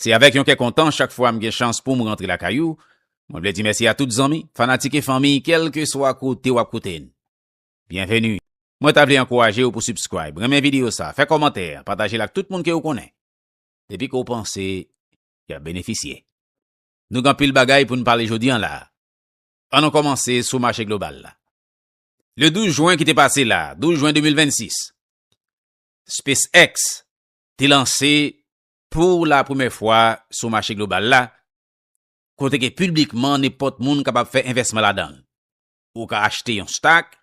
Se avèk yon kè kontan chak fwa m gen chans poum rantre lakay ou, mwen vle di mèsi a tout zanmi, fanatik e fanmiy kèlkeswa kote wap koute n. Byenveni! Mwen ta vle ankouraje w pou subscribe, renmen videyo sa, fè kòmantè, pataje l ak tout moun ke ou konnen, depi ke w panse yap benefisye. Nou gen anpil bagay pou n pale jodi an la a. An nou kòmanse sou mache global la. Le 12 jwen ki te pase la, 12 jwen 2026, SpaceX te lanse Pou la premè fwa sou mache global la, kote ke piblikman nenpòt moun kapab fè envèsman ladan l. Ou ka achte yon stak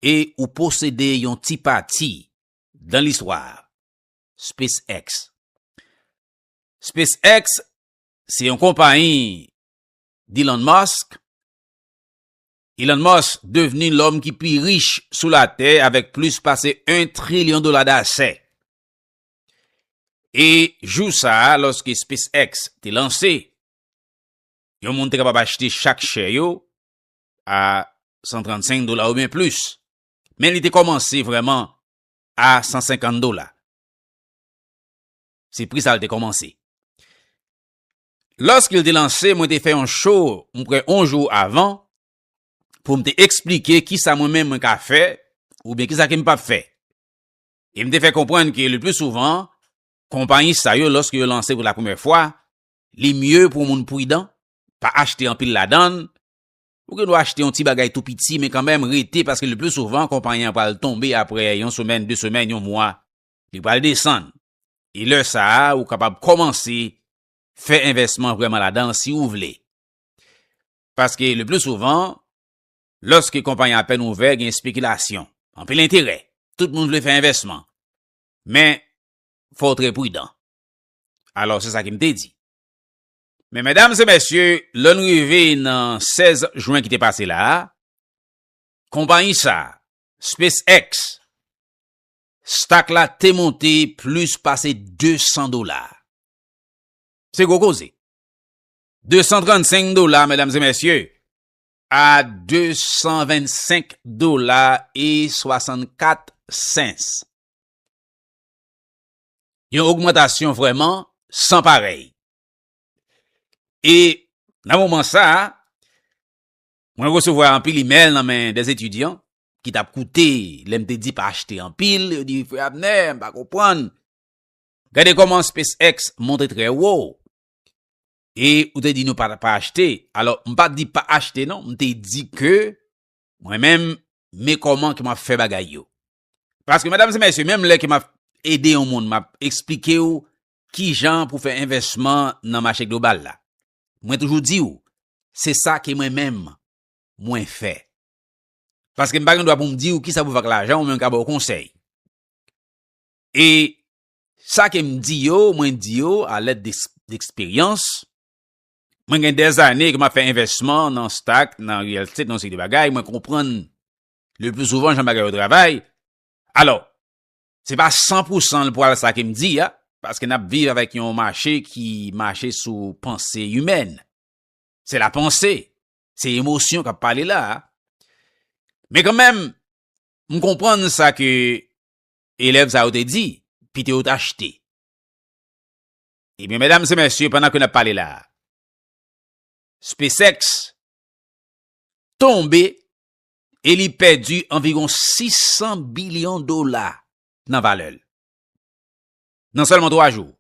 e ou posede yon ti pati dan listwa a. SpaceX SpaceX se yon konpayi d'Elon Musk. Elon Musk devni lòm ki pi rich sou latè avèk plis pase 1 trilyon dola dasè. E jou sa a, lòske SpaceX te lanse, yon moun te kapab achte chak share yo a 135 dola oubyen plis. Men li te kòmanse vrèman a 150 dola. Se pri sa li te kòmanse. Lòske li te lanse, mwen te fè yon show mwen kwè yon jou avan pou mwen te eksplike kisa mwen menm mwen ka fè oubyen kisa ke m pap fè. e m te fè konprann ke lepli souvan, konpayi sa yo lòske yo lanse pou la premyè fwa, li mye pou yon moun pridan, pa achte anpil ladan, ou gen dwa achte yon ti bagay tou piti men kanmenm rete paske lepli souvan konpayi an pral tonbe apre yon semèn, de semèn, yon mwa, li pral desann. E lè sa a ou kapab kòmanse fè envèsman vrèman ladan si ou vle. Paske lepli souvan, Lòske konpayi apèn ouvè gen espekilasyon, anpil enterè, tout moun vle fè envèsman. Men, fò w trè pridan. Alò se sa ke m te di. Men medam e mesye, lè n rive nan 16 jwen ki te pase la a, konpayi sa a, SpaceX, stak la te monte plis pase 200 dola. Se gwo koze. 235 dola medam e mesye, a 225 dola e 64 sens. Yon ogmantasyon vrèman san parèy. E nan moman sa a, mwen resevwa anpil imèl nan men de etidyan ki t ap koute lè m te di pa achte anpil, yo di frè Abner m pa konprann, gade kòman Space X monte trè wo, E ou te di nou pa pa achte. Alò m pa di pa achte non, m te di ke mwen menm me kòman ke m ap fè bagay yo. Paske medam e mesye, menm lè ke m ap ede yon moun, m ap esplike ou ki jan pou fè envèsman nan mache global la. Mwen toujou di ou, se sa ke mwen menm mwen fè. Paske m pa gen dwa pou m di ou ki sa pou fè ak lajan ou, mwen m ka ba ou konsèy. E Sa ke m di yo, mwen di yo a lèd d'eksperyans. Mwen gen dè zane ke m ap fè envèsman nan stak, nan real estate, nan yon seri de bagay, mwen konprann le pli souvan jan bagay yo travay. Alò, se pa san pou san l pral sa ke m di a, paske n ap viv avèk yon mache ki mache sou panse imèn. Se la panse, se emosyon k ap pale la a. Men kanmenm, m konprann sa ke Elèv sa yo te di, pito yo t achte. Ebyen, medam se mesye, pandan ke n ap pale la a, SpaceX tonbe e li pèdi anviron 600 bilyon dola nan valè l. Nan sèlman 3 jou,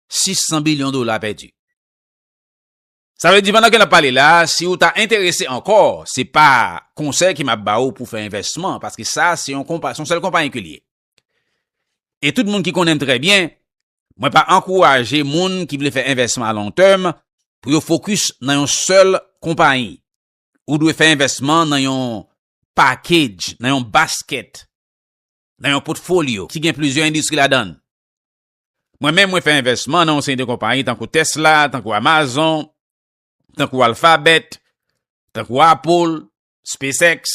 600 bilyon dola pèdi. Sa vle di pandan ke nap pale la, si ou ta enterese ankò, se pa konsèy ke map ba ou pou fè envèsman, paske sa se yon konpa, se yon sèl konpayi ke li ye. E tout moun ki konnenm trè byen, mwen pa ankouraje moun ki vle fè envèsman a long term pou yo fokis nan yon sèl konpayi. Ou dwe fè envèsman nan yon package, nan yon basket, nan yon potfolyo ki gen plizyè endistri ladann. Mwen menm mwen fè envèsman nan yon seri de konpayi tankou Tesla, tankou Amazon, tankou Alphabet, tankou Apple, SpaceX.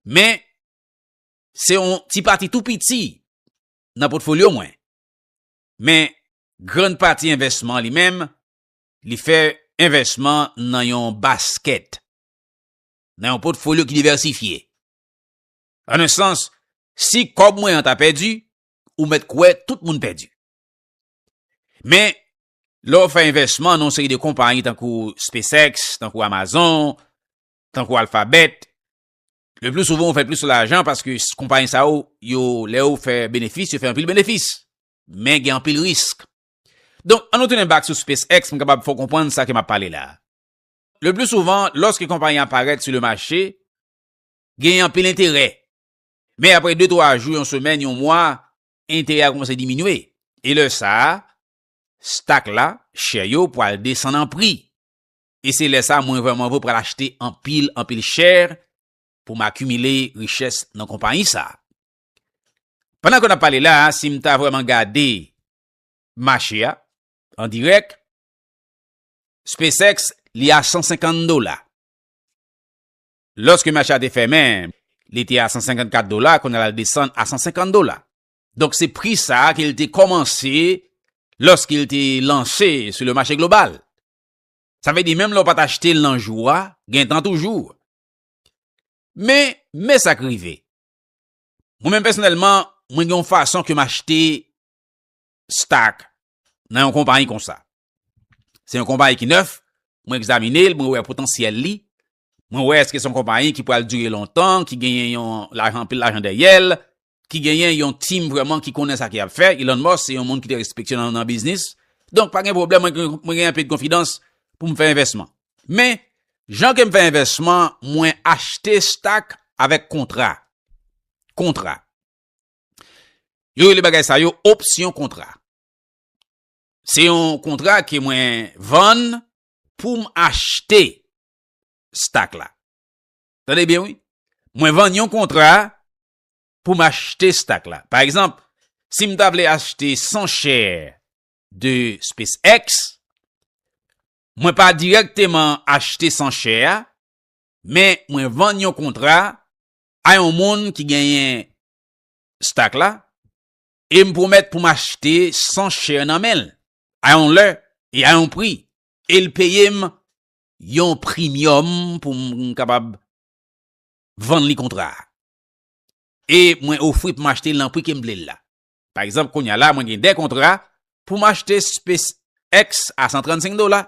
Men, se yon ti pati tou piti nan potfolyo mwen. Men, grand pati envèsman li menm, li fè envèsman nan yon basket, nan yon potfolyo ki diversifye. An un sans, si kòb mwen an ta pèdi, ou mèt kwè tout moun pèdi. Men, lè ou fè envèsman nan yon seri de konpayi tankou SpaceX, tankou Amazon, tankou Alphabet, le pli souvan ou fè plis lajan paske konpayi sa ou yo lè ou fè benefis, yo fè anpil benefis. Men gen anpil risk. Donk, an nou tounen bak sou SpaceX, m kapab fè ou konprann sa ke m ap pale la. Le pli souvan, lòske konpayi an parèt sou le mache, gen anpil enterè. Men apre de twa jou, yon semèn, yon mwa, enterè a koumanse diminye. E lè sa a, stak la, chè yo, pral desann an pri. E se lè sa a mwen vrèman vre pral achte anpil, anpil chè pou m akimile richès nan konpayi sa a. Pandan ke n ap pale la a, si m ta vrèman gade mache a, an dirèk, SpaceX li a 150 dola. Lòske mache a te fèmen, li te a 154 dola, kounye a la l desann a 150 dola. Donk se pri sa ke l te kòmanse lòske l te lanse sou le mache global. Sa vle di menm lè w pa t achte l nan jou a, gen tan toujou. Men, men sa k rive. Mwen menm pèsonèlman, mwen gen yon fason ke m achte stock nan yon konpayi konsa. Se yon konpayi ki nèf, mwen egzamine l, mwen wè potansyèl li, Mwen wè eske se yon konpayi ki pral dire lontan, ki genyen yon lajan, anpil lajan dèyè l, ki genyen yon team vrèman ki konnen sa ke y ap fè. Elon Musk se yon moun ki te respekte nan biznis. Donk pa gen pwoblèm, mwen gen anpil konfidans pou m fè envèsman. Men, jan ke m fè envèsman, mwen achte stock avèk kontra. Kontra. Yo rele bagay sa yo opsyon kontra. Se yon kontra ke mwen vann pou m achte. stack la. Tande byen wi. Mwen vann yon kontra pou m achte stack la. Pa egzanp, si m ta vle achte 100 chè de SpaceX, mwen pa direkteman achte 100 chè a, men mwen vann yon kontra a yon moun ki genyen stack la, e m pwomèt pou m achte 100 chè nan men l, a yon lè, e a yon pri, e l peye m yon primyòm pou m kapab vann li kontra a. E mwen ofri pou m achte l nan pri ke m vle l la. Pa egzanp, kounye a la mwen gen 2 kontra pou m achte Space X a 135 dola,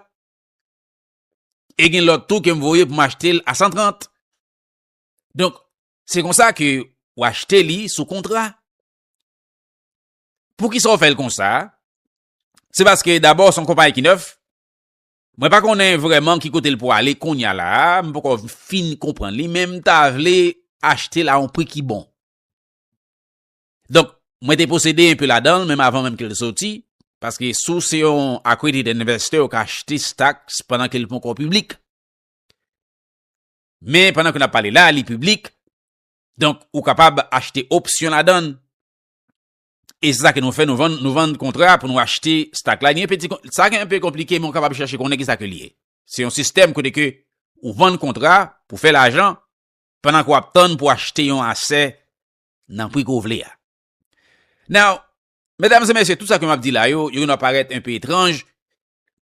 e gen lòt tou ke m voye pou m achte l a 130. Donk, se konsa ke ou achte li sou kontra. Poukisa ou fè l konsa? Se paske dabò son konpayi ki nèf, Mwen pa konnen vrèman ki kote l pwale konnya la a, m poko fin konprann li men m ta vle achte l a yon pri ki bon. Donk, mwen te posede enpe ladan l menm avan menm ke l soti, paske si w se yon accredited investor ou ka achte stocks pandan ke li ponko piblik. Men pandan ke n ap pale la a li piblik, donk ou kapab achte opsyon ladan l. E se sa ke nou fè, nou vann, nou vann kontra pou nou achte stak la. Gen peti, sa ki anpe konplike men ou kapab chache konnen ki sa ke li ye. Se yon sistèm kote ke ou vann kontra pou fè lajan pandan ke w ap tann pou achte yon asè nan pri ke w vle a. Now, medam e mesye, tout sa ke m ap di la yo, yo gen dwa parèt anpe etranj,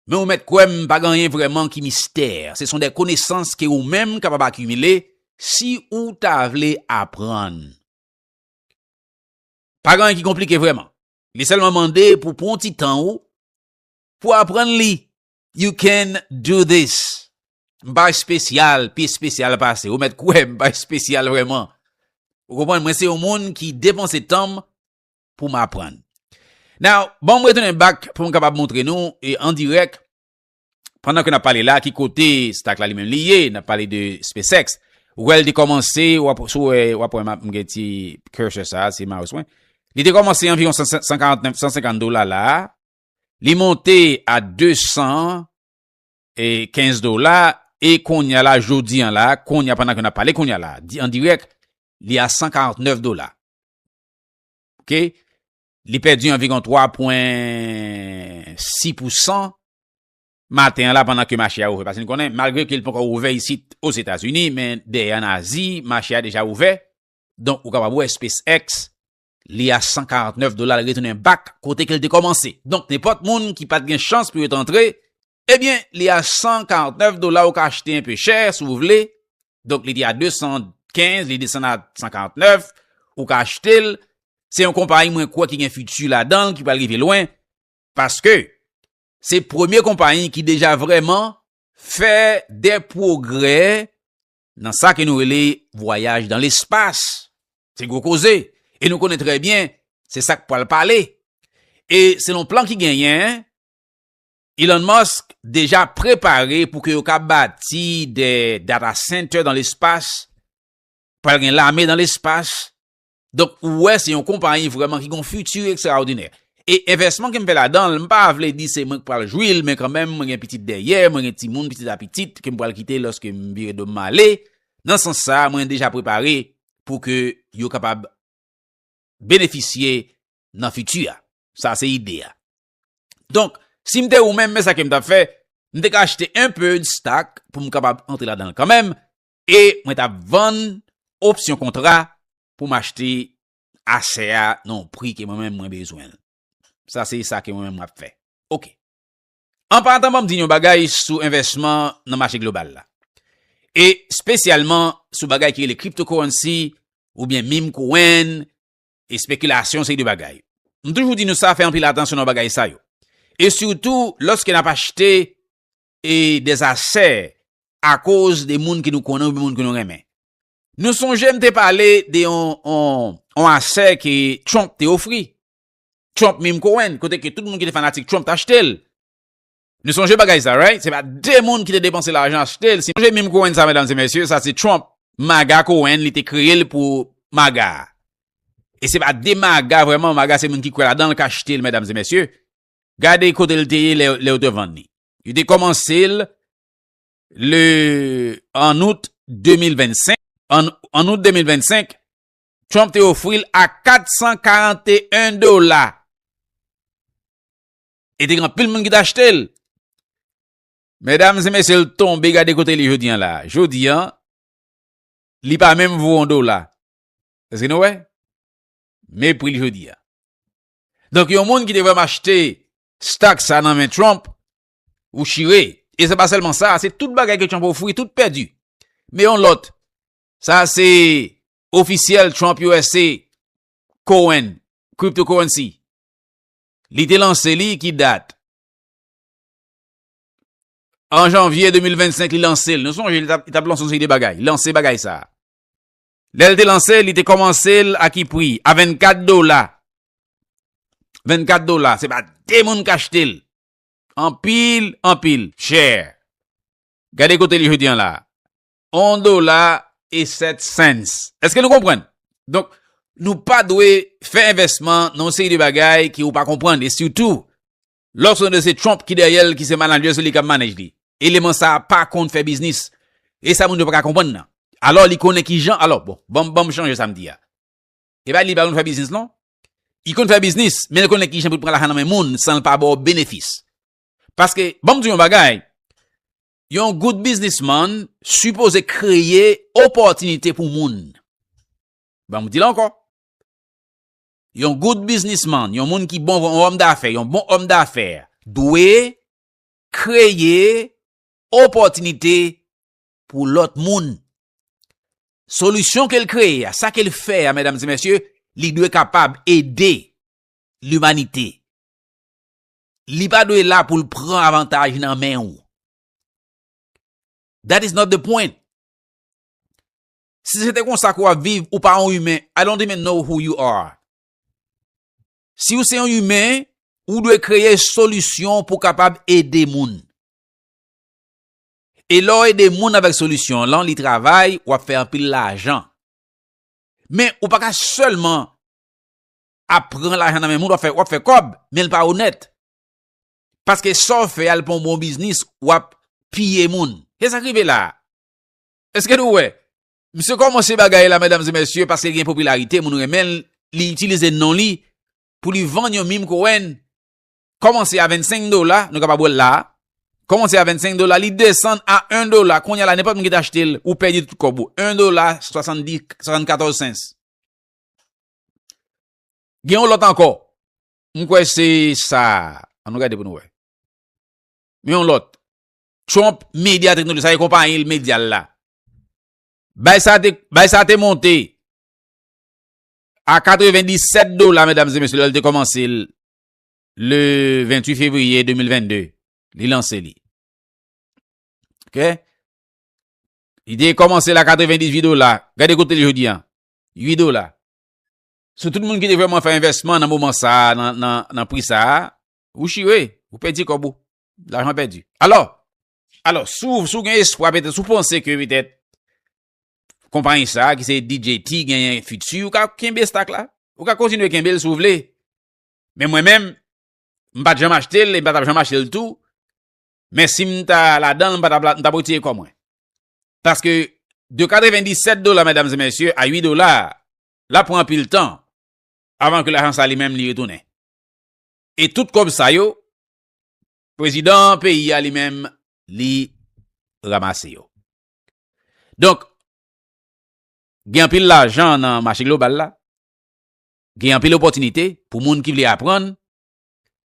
men ou mèt kwè m pa gen anyen vrèman ki mistè. Se son de konesans ke ou menm kapab akimile si ou ta vle aprann. Pa gen anyen ki konplike vrèman. Li sèlman mande pou pran yon ti tan ou pou aprann li. You can do this. M pa espesyal, pi espesyal pase ou. Mèt kwè m, m pa espesyal vrèman. Ou konprann? Mwen se yon moun ki depanse tan m pou m aprann. Now, ban m retounen bak pou m kapab montre nou an dirèk pandan ke nap pale la ki kote stack la li menm li ye nap pale de SpaceX ou wèl te kòmanse wap sou wè wap wè map mgen ti cursor sa se mouse mwen li te kòmanse anviron 149 150 dola la li monte a 200 e 15 dola e konya la jodi an la konya pandan ke nap pale konya la di an direk li a 149 dola ok Li pèdi anviron 3 pwen 6 pou 100 maten an la pandan ke mache a ouvè. Pase nou konnen, malgre ke li poko ouvè isit o Zetazini, men dèyè an Azi, mache a deja ouvè. Donk, ou kapab wè SpaceX, li a 149 dola, li retounen bak kote ke li te komanse. Donk, nenpòt moun ki pat gen chans pou yo te antre, Ebyen li a 149 dola ou ka achte enpe chè si w vle, donk li te a 215 li desann a 149 ou ka achte l, se yon konpayi mwen kwè ki gen fiti ladan l ki pral rive lwen paske se premye konpayi ki deja vrèman fè de pwogrè nan sa ke nou rele vwayaj dan lespas, se gwo koze e nou konnen trè byen se sa k pral pale e selon plan ki genyen Elon Musk deja prepare pou ke yo ka bati de data center dan lespas, pral gen lame dan lespas, donk ou wè se yon konpayi vreman ki gon futur ekstraodinè. E envèsman ke m fè ladanl, m pa vle di se mwen k pral jwi l men kanmenm mwen gen pitit dèyè, mwen gen timoun, pitit a pitit ke m pral kite loske m vire do m male, nan sans sa mwen deja prepare pou ke yo kapab benefisye nan futur a. Sa se ide a. Donk, si m te ou menm, men sa ke m t ap fè, m te ka achte un peu de stock pou m kapab antre ladan l kanmenm e mwen t ap vann opsyon kontra pou m achte asè a nan yon pri ke mwen menm mwen bezwen l. Sa se sa ke mwen menm m ap fè. Ok. An patan ban m di n yon bagay sou envèsman nan mache global la. E spesyalman sou bagay ki rele cryptocurrency oubyen meme coin Espekilasyon se de bagay. M toujou di nou sa fè anpil atansyon nan bagay sa yo. E sitou lòske n ap achte e de asè akoz de moun ke nou konnen oubyen moun ke nou renmen. Nou sonje m te pale de yon yon asè ke Trump te ofri. Trump menm Cohen kote ke tout moun ki te fanatik Trump te achte l. Nou sonje bagay sa right? Se pa 2 moun ki te depanse lajan achte l. Si nou sonje meme Cohen sa medam se mesye, sa se Trump. Maga Cohen li te kreye l pou maga. E se pa 2 maga vreman, maga se moun ki kwe ladan l ka achte l medam se mesye. Gade kote l te ye le yo te vann li. Yo te komanse l le an out 2025. An out 2025, Trump te ofri l a 441 dola. E te gen anpil moun ki te achte l. Medam e mesye l tonbe gade kote li jodi an la. Jodi an, li pa menm vo yon dola. Eske nou wè? Me pri l jodi an. Donk yon moun ki te vreman achte stak sa nan men Trump, ou chire. E se pa selman sa, se tout bagay ke Trump ofri, tout pèdi. Me yon lot, sa se ofisyel Trump usa, Cohen, cryptocurrency. Li te lanse li ki dat? An janvye 2025 li lanse l. Nou sonje li t ap lanse yon seri de bagay. Li lanse bagay sa. Lè l te lanse l, li te kòmanse l a ki pri? A 24 dola. 24 dola. Se pa de moun k achte l. Anpil, anpil. Chè. Gade kote li jodi an la. 1 dola e 7 cents. Eske nou konprann? Donk, nou pa dwe fè envèsman nan yon seri de bagay ke ou pa konprann. E sitou, lò se yon de se Trump ki dèyè l, ki se manager, se li kap manage li. Eleman sa a pa konn fè biznis. E sa moun yo pa ka konprann nan. Alò, li konnen ki jan, alò, bon, banm, banm chanje sa m di a. E pa di li pa konn fè biznis non. Li konn fè biznis, men li konnen ki jan pou l pran lajan nan men moun san l pa ba w benefis. Paske, banm di w yon bagay, Yon good businessman sipoze kreye opòtinite pou moun. Ban m di l ankò. Yon good businessman, yon moun ki bon, yon òm dafè, yon bon òm dafè, dwe kreye opòtinite pou lòt moun. Solisyon ke l kreye a, sa ke l fè a, medam e mesye, li dwe kapab ede limanite. Li pa dwe la pou l pran avantaj nan men ou. That is not the point. Si se te konsa ke w ap viv, ou pa yon imen. I don't even know who you are. Si ou se yon imen, ou dwe kreye solisyon pou kapab ede moun. E lè w ede moun avèk solisyon lan, li travay, w ap fè anpil lajan. Men, ou pa ka sèlman ap pran lajan nan men moun wap fè kòb menl pa onèt paske saw fè al pon bon biznis wap piye moun se sak rive la eske nou wè misye kòmanse bagay la medam zemesye paske gen popilarite moun renmen li itilize non li pou li vann yon mim kowen kòmanse a 25 dola nou kapab wèl la kòmanse a 25 dola li desann a 1 dola konya la nenpòt moun ki ta achte l ou pèdi tout kòb ou 1 dola 74 sens Gen yon lòt ankò. M kwè se sa. An nou gade pou nou wè. Gen yon lòt. Trump Media Technology. Sa e kompanyi l medya l la. Bay sa te, bay sa te monte. A 97 dola medam se mesye lè l te kòmanse l. Le 28 fevriye 2022. Li lanse li. Ok. Li te kòmanse l a 98 dola. Gade kote l jodi an. 8 dola. Sou tout moun ki te vreman fè envèsman nan moman sa a, nan pri sa a, ou chire, ou pèdi kòb ou. Lajan pèdi. Alò, alò, sou ou gen espwa, petèt, sou ou panse ke petèt, konpanyi sa a ki se DJT genyen fiti, ou ka kenbe stak la. Ou ka kontinye kenbe l sou ou vle. Men mwen menm, m pa t janm achte l, e m pa t ap janm achte l tou. Men si m ta ladan l, m ta pwotire kò mwen. Paske de 97 dola medam ze mesye a 8 dola la pran pil tan avan ke lajan sa li menm li retounen. E tout kob sa yo, prezidan peyi a li menm li ramase yo. Donk, gen pil lajan nan mache global la, gen pil opotinite pou moun ki vle apran,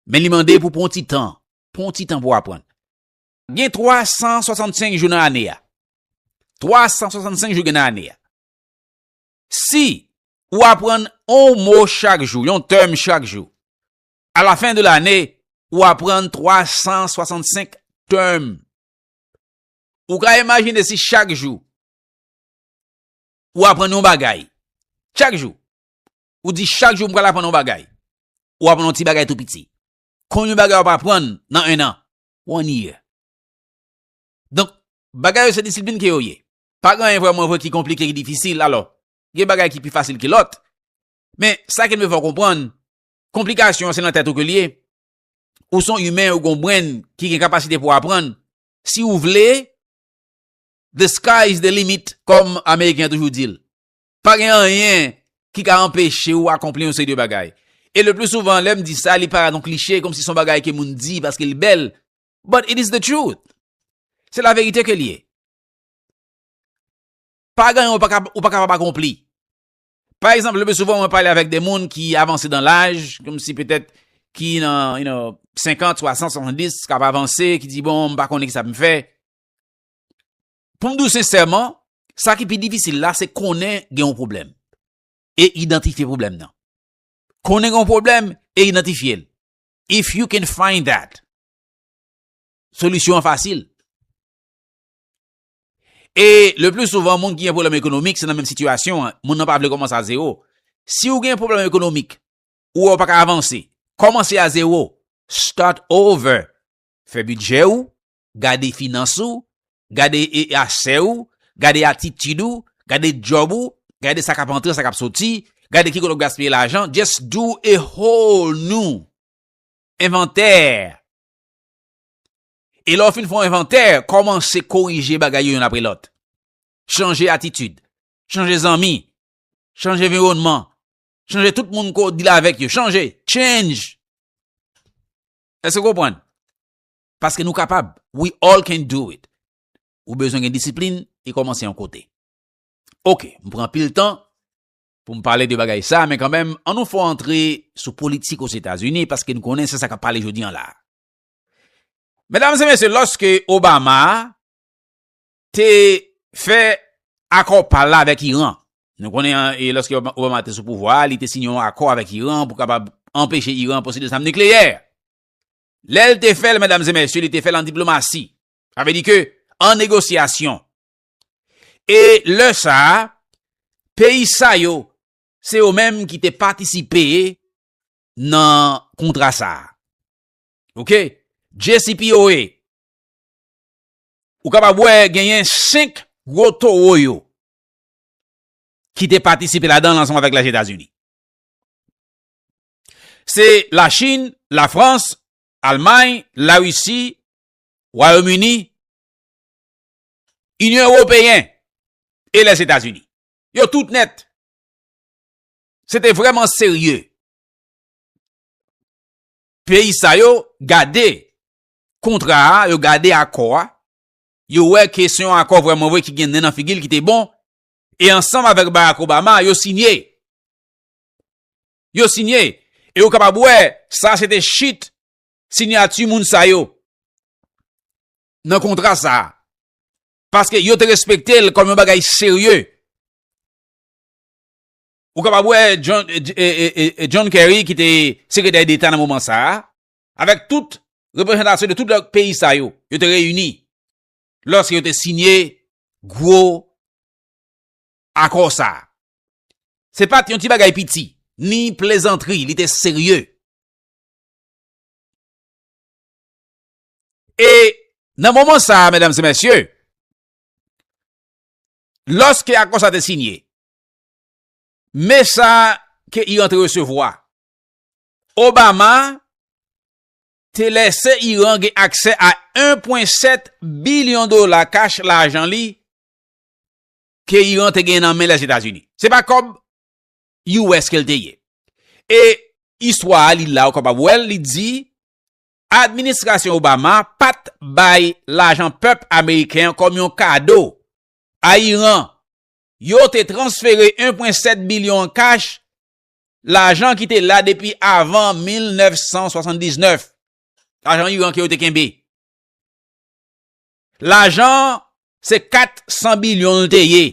men li mande pou pon ti tan, pon ti tan pou apran. Gen 365 jou nan ane a. 365 jou gen nan ane a. Si ou aprann on mo chak jou, yon tèm chak jou, a la fen de lane, ou aprann 365 tèm. Ou ka imajine si chak jou, ou aprann yon bagay. Chak jou. Ou di chak jou m pral aprann yon bagay. Ou aprann yon ti bagay tou piti. Kon yon bagay ou ap aprann nan 1 an. One year. Donk, bagay yo se disiplin ke yo ye. Pa gen anyen vrèman vre ki konplike, ki difisil. Alò, gen bagay ki pi fasil ke lòt. Men, sa ke m vle fè w konprann, konplikasyon an se nan tèt ou ke l ye. Ou se yon imen, ou gen yon brenn ki gen kapasite pou aprann. Si ou vle, the sky is the limit, kòm Ameriken an toujou di l. Pa gen anyen ki ka anpeche ou akonpli yon seri de bagay. E le pli souvan lè m di sa li parèt yon kliche kom si son bagay ke moun di paske li bèl, but it is the truth. Se la verite ke li ye. Pa gen anyen ou pa kapab akonpli. Pa ekzanp le pli souvan mwen pale avèk de moun ki avanse dan laj, kom si petèt ki nan you know 50, 60, 70 kap avanse ki di bon m pa konnen ki sa pou m fè. Pou m di w sensèman, sa ki pi difisil la se konnen gen yon pwoblèm e idantifye pwoblèm nan. Konnen gen yon pwoblèm e idantifye l. If you can find that, solisyon an fasil. E le plus souvan, moun ki gen pwoblèm ekonomik, se nan menm sitiyasyon an, moun nan pa vle kòmanse a zewo. Si ou gen pwoblèm ekonomik, ou wè ou pa ka avanse, kòmanse a zewo, start over, fè bidjè ou, gade finans ou, gade e achè ou, gade atitid ou, gade job ou, gade sa kap antre sa kap soti, gade ki kote wap gaspiye lajan, just do a whole new inventaire. E lè w fin fè yon envantè, kòmanse korije bagay yo youn apre lòt. Chanje atitid, chanje zanmi, chanje viwònman, chanje tout moun ko w deal avèk yo, chanje, change! Èske w konprann? Paske nou kapab. We all can do it. Ou bezwen gen disiplin e kòmanse yon kote. Ok, m pran pil tan pou m pale de bagay sa, men kanmenm, an nou fè w antre sou politik Ozetazini, paske n konnen se sa k ap pale jodi an la a. Medam e mesye, lòske Obama te fè akò pa l la avèk Iran, nou konnen e lòske Obama te sou pouvwa a, li te siyen yon akò avèk Iran pou kapab anpeche Iran posede zam nikleyè. Lè l te fè l, medam e mesye, li te fè l an diplomasi. Sa vle di ke an negosyasyon. E lè sa a, peyi sa yo, se yo menm ki te patisipe nan kontra sa a. Ok? JCPOA. Ou kapab wè genyen 5 gwo towo yo ki te patisipe ladan l ansanm avèk Lèzetazini. Se la Chine, la France, Almay, la Russie, Wayom Uni, Union Europeen e les Etats Unis. Yo tout net. Se te vreman serye. Peyi sa yo gade kontra a, yo gade akò a, yo wè ke se yon akò vreman vre ki gen nen nan figil ki te bon, e ansanm avek Barack Obama yo sinye. yo sinye e ou kapab wè sa se te chit sinyati moun sa yo nan kontra sa a. Paske yo te respekte l kòm yon bagay serye. Ou kapab wè John Kerry ki te sekretè deta nan moman sa a, avèk tout reprezentasyon de tout lòk peyi sa yo, yo te reyini lòske yo te sinye gwo Akò sa a, se pa t yon ti bagay piti, ni plezantri, li te serye. E nan moman sa a, medam e mesye, lòske akò sa a te sinye, me sa ke Iran te resevwa, Obama te lese Iran gen aksè a 1.7 bilyon dola kach lajan li, ke Iran te gen nan men Lèzetazini. Se pa kòb US ke l te ye. E istwa a li la ou kapab wè l, li di, Administrasyon Obama pa t bay lajan pèp ameriken an kòm yon kado a Iran. Yo te transfere 1,7 bilyon an kach, lajan ki te la depi avan 1979, lajan Iran ke yo te kenbe. Lajan an se 400 bilyon l te ye.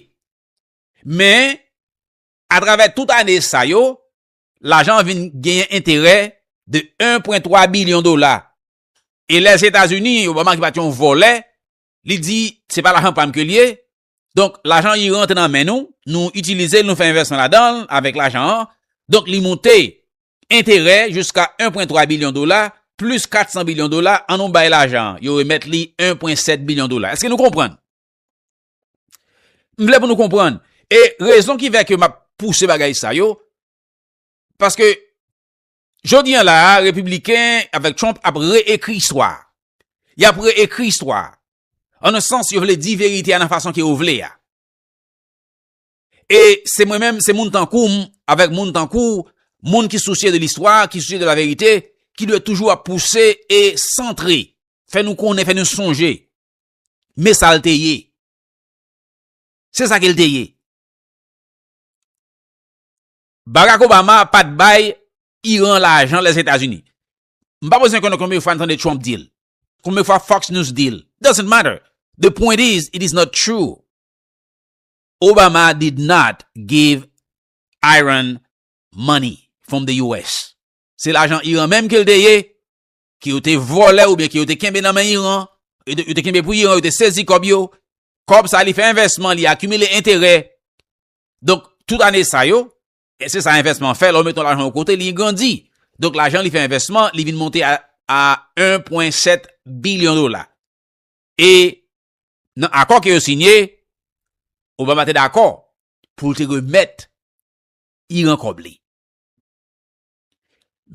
Men, atravè tout ane sa yo, lajan an vin genyen enterè de 1,3 bilyon dola. E lè Etazini, Obama ki pa t yon vòlè, li di se pa lajan pa m ke l ye, Donk, lajan IRA antre nan men nou, nou itilize l, nou fè envèsman ladan l avèk lajan an, donk li moute enterè jiska 1 pwen 3 bilyon dola, plis 400 bilyon dola, an nou bay lajan an, yo remèt li 1 pwen 7 bilyon dola. Eske nou konprann? M vle pou nou konprann. E rezon ki fè ke m ap pouse bagay sa yo, paske Jodi an la a, Repibliken avèk Trump ap re-ekri istwa a. Y ap re-ekri istwa a. An nan sans, yo vle di verite a nan fason ke yo vle a. E se mwen menm, se moun tankou m, avèk moun tankou w, moun ki sousye de listwa, ki sousye de la verite, ki dwe toujou ap pouse e santre, fè nou konnen, fè nou sonje. Men sa l te ye. Se sa ke l te ye. Barack Obama pat bay Iran lajan Lèzetazini. M pa bezwen konnen konbyen fwa n tande Trump di l. Konbyen fwa Fox News di l. Doesn't matter. The point is, it is not true. Obama did not give Iran money from the US. Se lajan Iran menm ke l te ye, ke yo te vòlè oubyen ke yo te kenbe nan men Iran, yo te kenbe pou Iran, yo te sezi kòb yo. Kòb sa li fè envèsman, li akimile enterè. Donk, tout ane sa yo, e se sa envèsman an fè, lè ou met yon lajan yon kote, li grandi. Donk, lajan li fè envèsman, li vin monte a 1,7 bilyon dola. E nan akò ke yo sinye, Obama te dakò pou l te remèt Iran kòb li.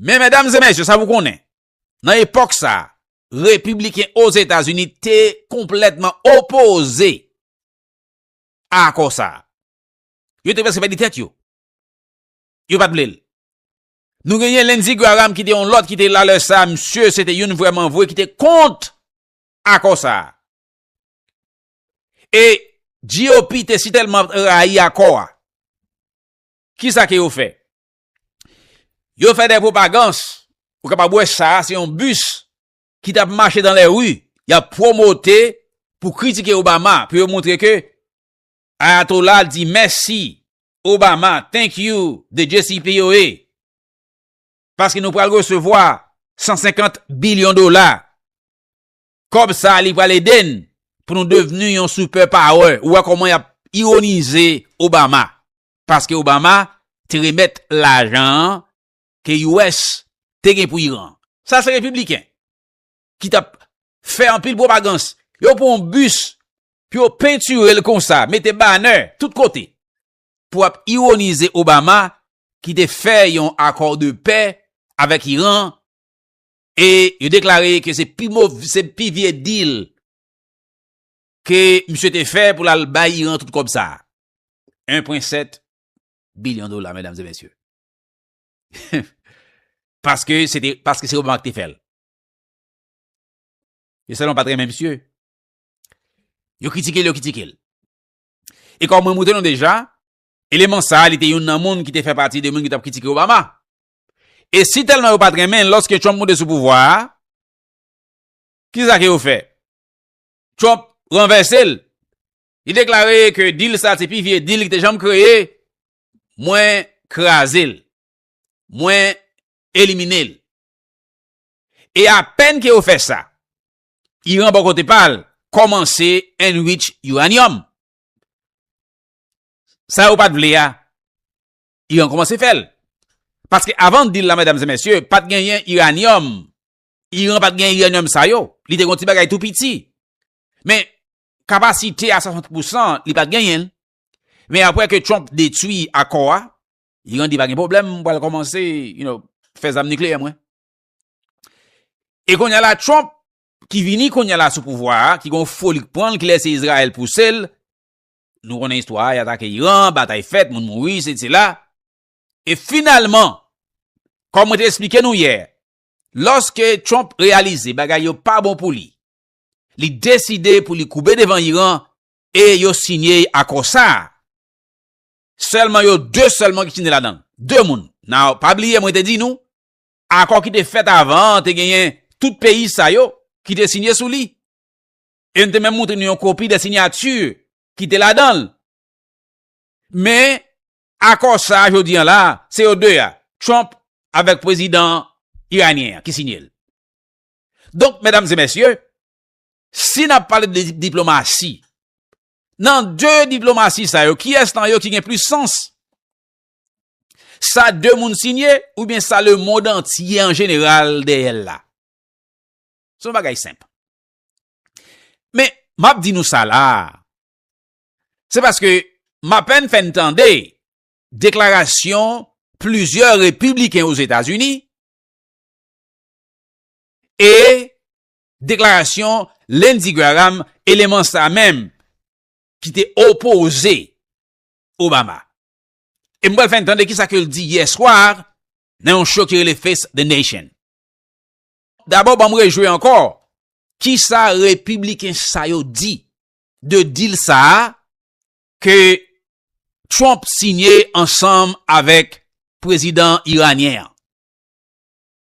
Men, medam e mesye, sa pou konnen, nan epòk sa, Repibliken Ozetazini te konplètman opoze a akò sa a. Yo te prèske pèdi tèt yo. Yo pa t vle l. Nou genyen Lindsey Graham ki te yon lòt ki te la lè sa a, msye se te youn vrèmanvwe ki te kont akò sa a. E GOP te si tèlman rayi akò a. Ki sa ke yo fè? Yo fè de pwopagans, ou kapab wè sa a, se yon bis ki tap mache dan lè ri yap pwomote pou kritike Obama pou yo moutre ke Ayatollah di mèsi Obama thank you the JCPOA paske nou pral resevwa 150 bilyon dola kòb sa li pral ede n pou nou devni yon super power ou wè kòman yap ironize Obama paske Obama te remèt lajan an ke US te gen pou Iran. Sa se Repibliken ki t ap fè anpil pwopagans. Yo pran yon bis pou yo pentire l konsa, mete banè tout kote pou ap ironize Obama ki te fè yon akò de pè avèk Iran e yo deklare ke se pi mov, se pi vye deal ke misye te fè pou l al bay Iran tout kòb sa a. 1.7 bilyon dola, medam e mesye. Paske se te, paske se Obama ki te fèl. Yo sèlman pat renmen misye. Yo kritike l, yo kritike l. E kòm mwen moutre nou deja, eleman sa li te yon nan moun ki te fè pati de moun ki tap kritike Obama. E si tèlman yo pat renmen l, lòske Trump moute sou pouvwa a, ki sa ke yo fè? Trump ranvèse l. Li deklare ke dil sa se pi vye dil ki te janm kreye Mwen kraze l. Mwen elimine l. E apèn ke yo fè sa, Iran bò kote pa l kòmanse enrich uranium. Sa yo pat vle a, Iran kòmanse fè l. Paske avan deal la medam e mesye, pat genyen uranium. Iran pat genyen uranium sa yo. Li te gon ti bagay tou piti. Men, kapasite a 60 pousan, li pat genyen l. Men apre ke Trump detwi akò a, Iran di pa gen pwoblèm, mwen pral kòmanse, you know, fè zam nikleyè mwen. E kounye la Trump, ki vini kounye la sou pouvwa a, ki gon foli k pran l, ki lèse Izrayèl pouse l, nou konnen istwa a, y atake Iran, batay fèt, moun mouri, se se la. E finalman, kòm mwen te esplike nou yè, lòske Trump reyalize bagay yo pa bon pou li, li deside pou li koube devan Iran, E yo sinye akò sa a. Sèlman yo de sèlman ki sinye ladan l. De moun. Now, pa bliye mwen te di nou, akò ki te fèt avan an te genyen tout peyi sa yo ki te sinye sou li. E m te menm montre nou yon kopi de sinyati ki te ladan l. Men, akò sa a jodi an la a, se yo de a, Trump avèk pwezidan iranyen an ki sinye l. Donk, medam e mesye, Si n ap pale de diplomasi, nan de diplomasi sa yo, kiyès nan yo ki gen plis sans? Sa de moun siyen oubyen sa lemond antye an jeneral dèyè l la? Se yon bagay senp. Men, m ap di nou sa la a, se paske m apèn fè n tande deklarasyon plizyè repibliken Ozetazini e Deklarasyon Lindsey Graham, eleman sa menm ki te opoze Obama. E m pral fè n tande kisa ke l di yè swa nan yon show ki rele Face the Nation. Dabò banm rejwe ankò kisa repibliken sa yo di de deal sa a ke Trump sinye ansanm avèk prezidan iranyen an.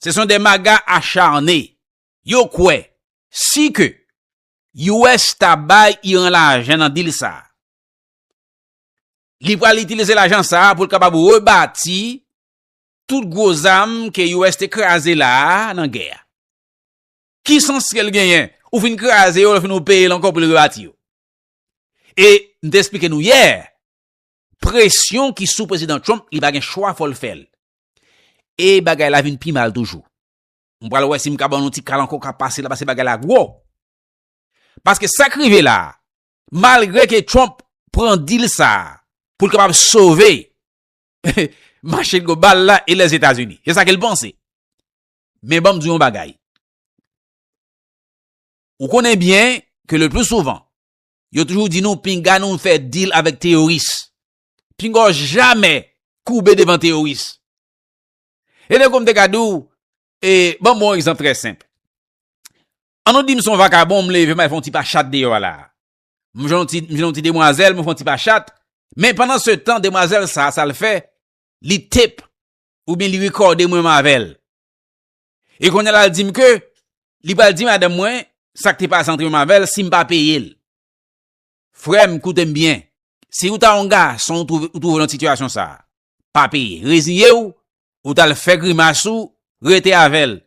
Se son de maga acharne. Yo kwè, si ke US ta bay Iran lajan nan dil sa, li pral itilize lajan sa pou l kapab rebati tout gwo zam ke US te kraze la a nan gè a. Ki sans ke l genyen? Ou fin kraze yo, ou fin ou peye l ankò pou l rebati yo. E m te esplike nou yè, Presyon ki sou Prezidan Trump li pa gen chwa fò l fè l. E bagay la vin pi mal toujou. M pral wè si m ka ban nou ti kal ankò ka pase la pase bagay la gwo. Paske sa k rive la a, malgre ke Trump pran dil sa a pou l kapab sove mache global la e Lèzetazini. Se sa ke l panse. Men ban m di w yon bagay. Ou konnen byen ke le pli souvan Yo toujou di nou pinga nou fè deal avèk teyoris. Pinga w jamè koube devan teyoris. E de kou m te ka di w, e banm bon egzanp trè senp. An nou di m son vakabon m leve may fon ti pa chat deyò la. M jwenn yon ti demwazèl m fon ti pa chat. Men pandan se tan demwazèl sa sa l fè li tep ou byen li rekòde mwen m avèl. E kounye la l di m ke li pral di madanm mwen sa k te pase antre m avè l si m pa peye l. Frè m, koute m byen, si ou ta yon gason ou twouve ou nan sitiyasyon sa a, pa peye. Reziye w, ou t al fè grimas ou, rete avè l.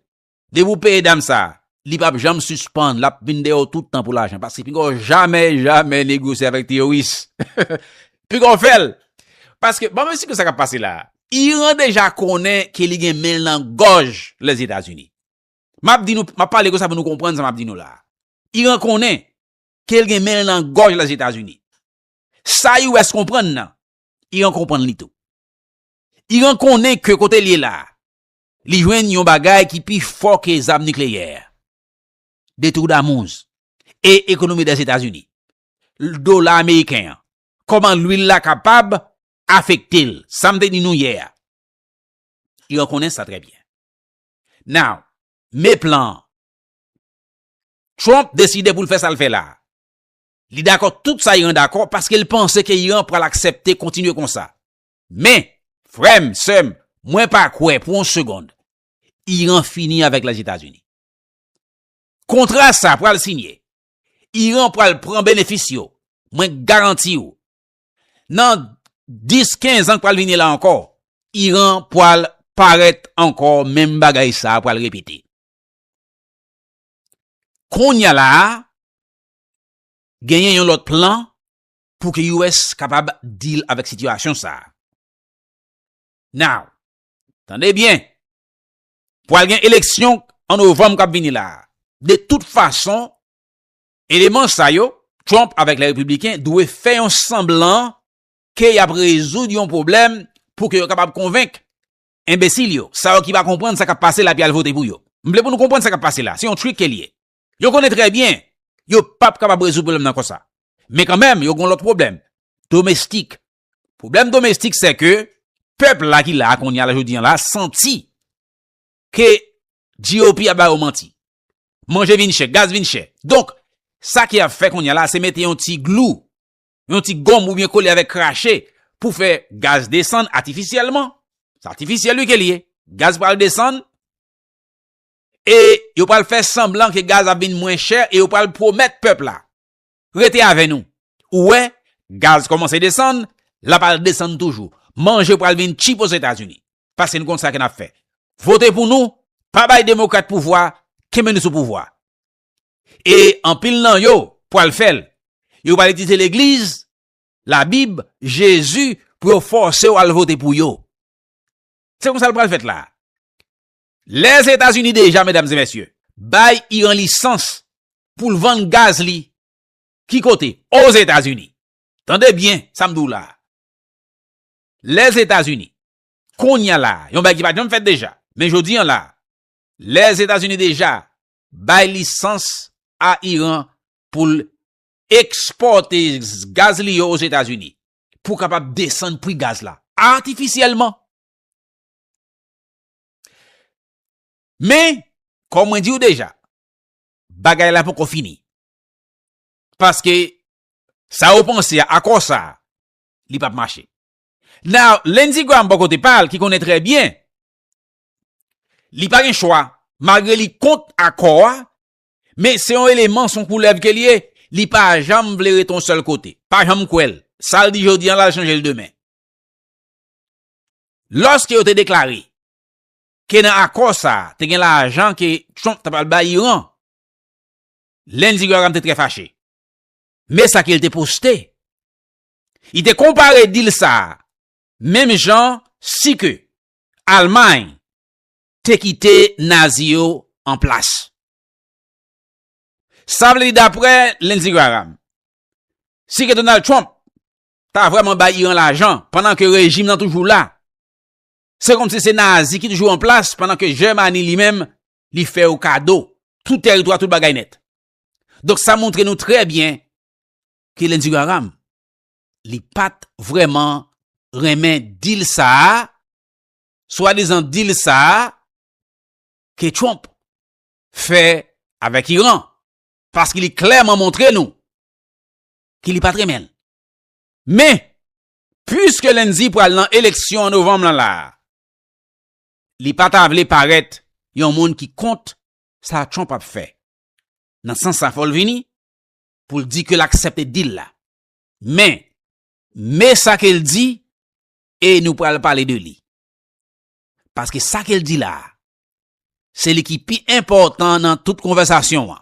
Depi ou peye dam sa a, li p ap janm sispann, l ap vin dèyè w tout tan pou lajan. Paske pinga w jamè, jamè negosye avèk teyoris. Pinga w fè l. Paske, ban m esplike w sa k ap pase la a. Iran deja konnen ke li gen men l nan gòj Lèzetazini. M ap di nou, m ap pale konsa pou nou konprann sa m ap di nou la a. Iran konnen ke l gen men l nan gòj Lèzetazini. Sa US konprann nan, Iran konprann li tou. Iran konnen ke kote l ye la a, li jwenn yon bagay ki pi fò ke zam nikleyè. De twou damouz, e ekonomi Lèzetazini, dola ameriken an, kòman lwil la kapab afekte l. Sa m te di nou yè a. Yo konnen sa trè byen. Now, men plan an. Trump deside pou l fè sa l fè la. Li dakò tout sa Iran dakò paske l panse ke Iran pral aksepte kontinye konsa. Men, frè m, sè m, mwen pa kwè pou yon segond Iran fini avèk Lèzetazini. Kontra sa pral sinye. Iran pral pran benefis yo. Mwen garanti ou. Nan 10, 15 an k pral vini la ankò, Iran pral parèt ankò menm bagay sa a pral repete. Konnya la a, genyen yon lòt plan pou ke US kapab deal avèk sitiyasyon sa a. Now, tande byen, pral gen eleksyon an novanm k ap vini la a. De tout fason, Eleman sa yo, Trump avèk lè Repibliken dwe fè yon sanblan ke y ap rezoud yon pwoblèm pou ke yo kapab konvenk enbesil yo, sa yo ki pa konprann sa k ap pase la pi al vote pou yo. M vle pou nou konprann sa k ap pase la, se yon trick ke l ye. Yo konnen trè byen yo pa p kapab rezoud pwoblèm nan konsa. Men kanmenm yo gen yon lòt pwoblèm domestik. Pwoblèm domestik sè ke pèp la ki la a kounye a la jodi an la santi ke GOP ap ba yo manti. Manje vin chè, gaz vin chè. Donk, sa ki ap fè kounye a la se mete yon ti glou, yon ti gòm ou byen kole avèk krache pou fè gaz desann atifisyèlman. Se atifisyèl wi ke li ye. Gaz pral desann e yo pral fè sanblan ke gaz ap vin mwen chè e yo pral pwomèt pèp la. Rete avè nou. Ou wè, gaz kòmanse desann, l ap al desann toujou. Manje pral vin tchip Ozetazini. Paske n konn sa ke n ap fè. Vote pou nou, pa bay demokrat pouvwa, kenbe nou sou pouvwa. E anpil nan yo pral fè l. Yo pral itilize legliz, labib, Jezi pou yo fòse w al vote pou yo. Se konsa l pral fèt la. Lèzetazini deja, medam e mesye, bay Iran lisans pou l vann gaz li, ki kote? Ozetazini. Tande byen sa m di w la a. Lèzetazini, kounye a la a, yon bagay ki pa t janm fèt deja, men jodi an la a, Lèzetazini deja bay lisans a Iran pou l ekspòte gaz li yo Ozetazini, pou kapab desann pri gaz la, atifisyèlman. Men, kon mwen di ou deja, bagay la poko fini. Paske, sa ou panse a akò sa, li pap mache. Now, Lindsey Graham bo kote pa l ki konnen trè byen, li pa gen chwa, malgre li kont akò a, men se yon eleman, son koulèv ke li ye, li pa janm vle rete yon sèl kote. Pa janm kwè l. Sa l di jodi an la, l chanje l demen. Lòske yo te deklare ke nan akò sa a te gen lajan ke Trump ta pral bay Iran, Lindsey Graham te trè fache. Men sa ke li te poste, Li te konpare dil sa a menm jan si ke Almay te kite Nazi yo an plas. Sa vle di daprè Lindsey Graham, si ke Donald Trump ta vrèman bay Iran lajan pandan ke rejim nan toujou la. Se kòmsi se Nazi ki toujou an plas pandan ke Jèmani li menm li fè yo kado tout tèritwa, tout bagay nèt. Donk sa montre nou trè byen ke Lindsey Graham li pa t vrèman renmen deal sa a, swadizan deal sa a ke Trump fè avèk Iran. Paske li klèman montre nou ki li pat renmen l. Men, puiske Lendy pral nan eleksyon an novanm lan la a, li pa ta vle parèt yon moun ki kont sa Trump ap fè. Nan sans sa fò l vini pou l di ke l aksepte deal la. Men, me sa ke l di e nou pral pale de li. Paske sa ke l di la a, se li ki pi enpòtan nan tout konvèsasyon an.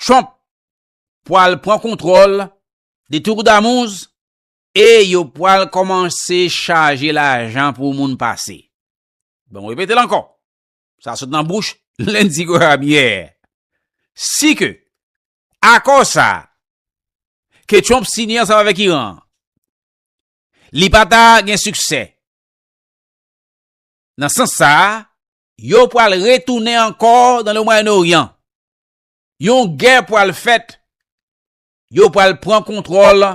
Trump pwal pran kontrol de tour damouz e yo pwal komanse chaje lajan pou moun pase. Bon mwen repete l anko. Sa sot nan bouch Lindsey Graham yè. Si ke ako sa ke Trump siyen ansanm avek Iran li pa ta gen siksè nan sans sa Yo pral retounen ankò nan le Mwayen Oryan. Yon gè pral fèt. Yo pral pran kontwòl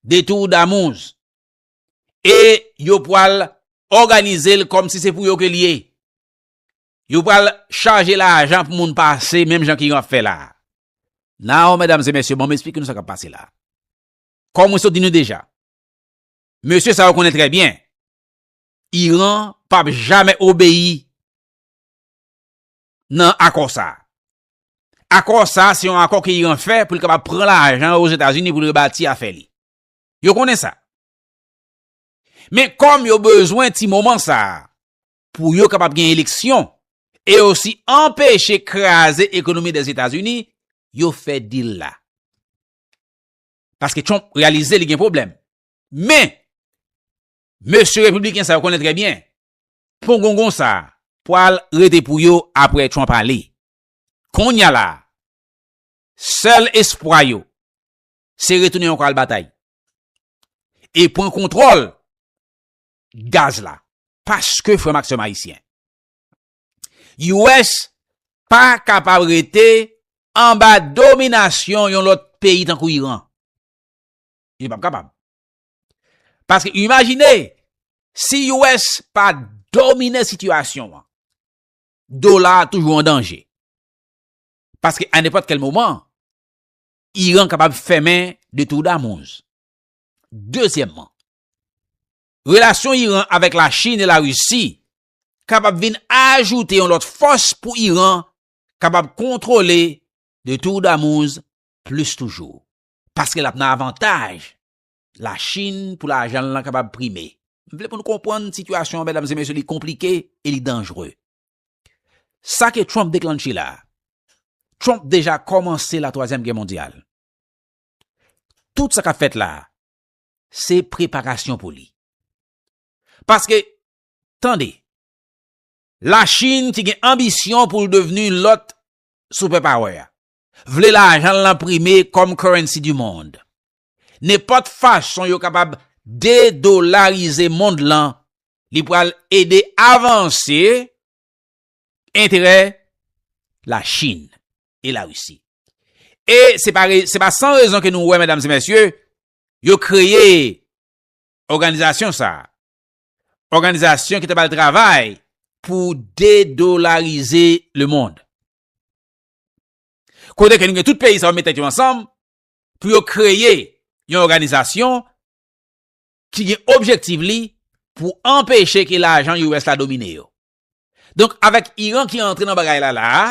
de Tour Damouz. E yo pral òganize l kòm si se pou yo ke l ye. Yo pral chaje lajan pou moun pase menm jan ki yon ap fè la a. Now, medam e mesye, ban m esplike nou sa k ap pase la a. Kòm mwen sot di nou deja, mesye sa yo konnen trè byen. Iran pap jamè obeyi nan akò sa a. Akò sa a se yon akò ke Iran fè pou l kapab pran lajan yo Ozetazini pou l rebati afè li. Yo konnen sa. Men kòm yo bezwen ti moman sa a pou yo kapab gen eleksyon e osi anpeche kraze ekonomi de Zetazini, yo fè deal la. Paske Trump reyalize li gen pwoblèm. Men, Mesye Repibliken sa yo konnen trè byen, pongongon sa a pwal rete pou yo apre Trump ale. Konnya la a, sèl espwa yo, se retounen yon kal batay e pran kontwòl gaz la. Paske frè m ak sè m Ayisyen, US pa kapab rete anba dominasyon yon lòt peyi tankou Iran. Li pap kapab. Paske imajine, si US pa domine sitiyasyon an, dola a toujou an danje. Paske a nepot kel moman, Iran kapab femen de tou damouz. Dezyemman, relasyon Iran avek la Chin e la Risi kapab vin ajoute yon lot fos pou Iran kapab kontrole de tou damouz plis toujou. Paske lap nan avantaj La Chine pou lajan l lan kapab prime. M vle pou nou konprann sitiyasyon an medam e mesye li konplike e li danjre. Sa ke Trump deklanche la, Trump deja kòmanse la twazyèm gè mondyal. Tout sa k ap fèt la, se preparasyon pou li. Paske, tande, la Chine ki gen anbisyon pou l devni lòt super power, vle lajan l lan prime kòm currency du monde. Nenpòt fason yo kapab dedolarize mond lan, li pral ede avanse enterè Lachin e Larisi. E se pa se pa san rezon ke nou wè medam e mesye, yo kreye òganizasyon sa a. Òganizasyon ki ta pral travay pou dedolarize lemond. Kote ke nou gen tout peyi sa yo met tèt yo ansanm pou yo kreye yon òganizasyon ki gen objektiv li pou anpeche ke lajan US la domine yo. Donk, avèk Iran ki antre nan bagay la la a,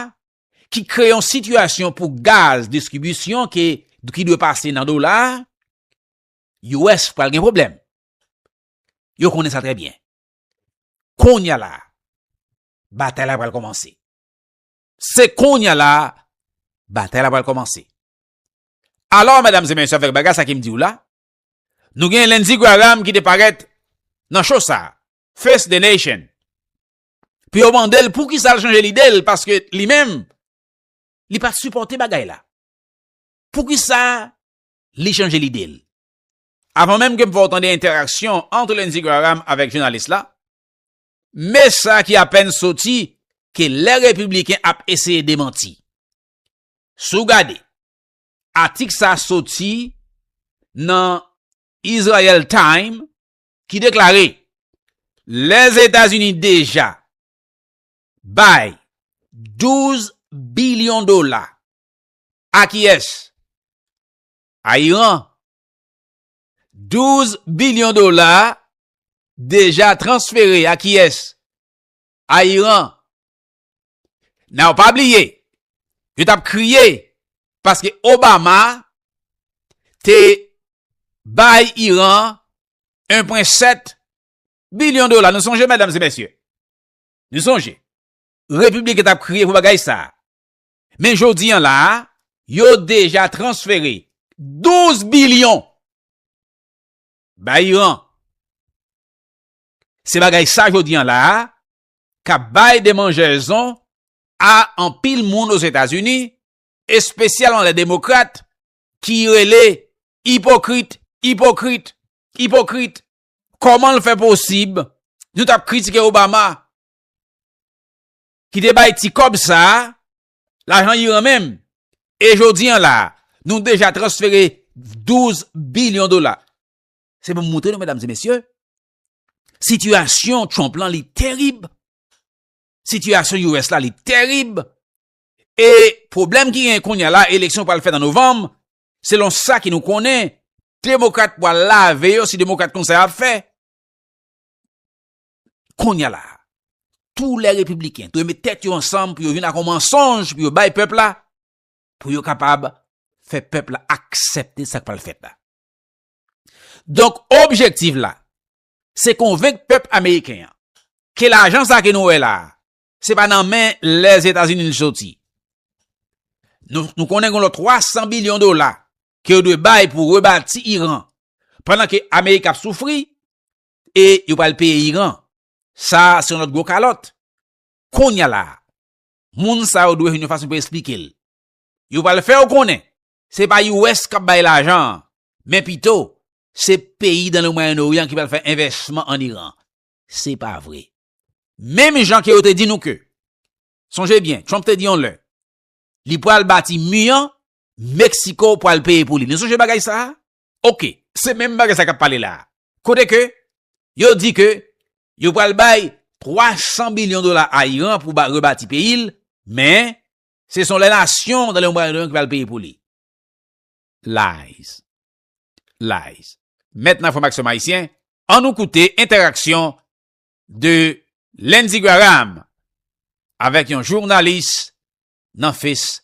ki kreye yon sitiyasyon pou gaz distribisyon ke, ki dwe pase nan dola, US pral gen pwoblèm. Yo konnen sa trè byen. Kounye a la, batay la pral kòmanse. Se konya la batay la pral komanse. Alò medam e mesye avek bagay sa ki m di w la, nou gen Lindsey Graham ki te paret nan show sa, Face the Nation. Pou yo mande l pou kisa l chanje lide l paske li menm li pat sipote bagay la. Pou kisa li chanje lide l. Avan menm ke m fè w tande enteraksyon antre Lindsey Graham avek jounalis la, Me sa ki apèn soti ke lè Repibliken ap eseye demanti. Si w gade, atik sa soti nan Israel Time ki deklare Lèzetazini deja bay 12 bilyon dola a kiyès? A Iran. 12 bilyon dola deja transfere a kiyès? A Iran. Now pa bliye, yo t ap kriye paske Obama te bay Iran 1.7 bilyon dola. Nou sonje medam e mesye? Nou sonje? Repibliken t ap kriye pou bagay sa a. Men jodi an la a, yo deja transfere 12 bilyon bay Iran. Se bagay sa jodi an la a k ap bay demanjèzon a anpil moun Ozetazini, espesyalman lè demokrat ki rele ipokrit, ipokrit, ipokrit, kòman l fè posib nou t ap kritike Obama? ki te bay ti kòb sa a, lajan Iran menm, e jodi an la a, nou deja transfere 12 bilyon dola. Se pou m moutre nou, medam e mesye, sitiyasyon Trump lan li terib, sitiyasyon US la li terib, e pwoblèm ki gen kounye a la, eleksyon pral fèt an novanm, selon sa ki nou konnen, demokrat pral lave yo si demokrat konsa y ap fè. Konya la a, tou lè Repibliken dwe met tèt yo ansanm pou yo vin ak yon mansonj pou yo bay pèp la, pou yo kapab fè pèp la aksepte sa k pral fèt la. Donk, objektif la, se konvenk pèp ameriken an, ke lajan sa a ke nou wè la a, se pa nan men Lèzetazini li soti. Nou konnen gen lòt 300 bilyon dola ke yo dwe bay pou rebati Iran, pandan ke Amerik ap soufri, e yo pral peye Iran. Sa a se yon lòt gwo kalòt. Konnya la a, moun sa yo dwe jwenn yon fason pou esplike l. Yo pral fè w konnen se pa US k ap bay lajan an, men pito se peyi dan le Mwayen Oryan ki pral fè envèsman ann Iran. Se pa vre. Menm jan ke yo te di nou ke, sonje byen, Trump te di yon lè, li pral bati mi an, Meksiko pral peye pou li. Nou sonje bagay sa a? Ok, se menm bagay sa kap pale la. Kote ke, yo di ke, yo pral bay 300 bilyon dola a Iran pou ba rebati peyi l, men, se son lè nasyon nan lè yon bagay nan yon ki pral peye pou li. Lies. Lies. Mèt nan enfòmaksyon Mayisyen, an nou koute entèraksyon de Lindsey Graham avèk yon jounalis nan Face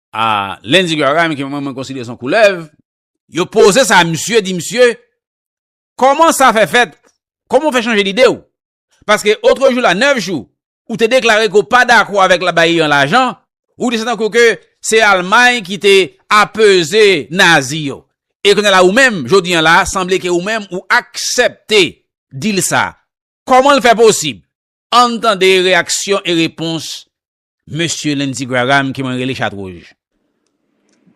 Ah Lendy Graham ke mwen mwen konsidere son koulèv. Yo poze sa a misye, di misye, Kòman sa fè fèt? Kòman ou fè chanje lide ou? Paske otre jou la, 9 jou, ou te deklare ke ou pa dakò avèk la bay Iran lajan, ou di se tankou ke se Almay ki te apeze Nazi yo. E kounye a la ou menm, jodi an la, sanble ke ou menm ou aksepte deal sa a. Kòman l fè posib? Ann tande reyaksyon e repons Mesye Lindsey Graham ke mwen rele chat wouj.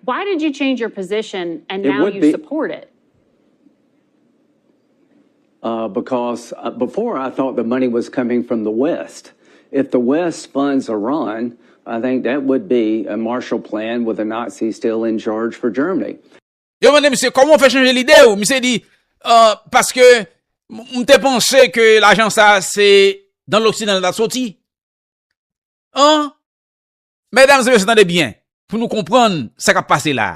Why did you change your position and now you support it? Because before I thought the money was coming from the west. If the west funds Iran, I think that would be a Marshall plan with the Nazis still in charge for Germany. Yo mande misye koman ou fè chanje lide ou, misye di paske m te panse ke lajan sa se dan loksidan l ta soti. An, medam se mesye tande byen, pou nou konprann sa kap pase la.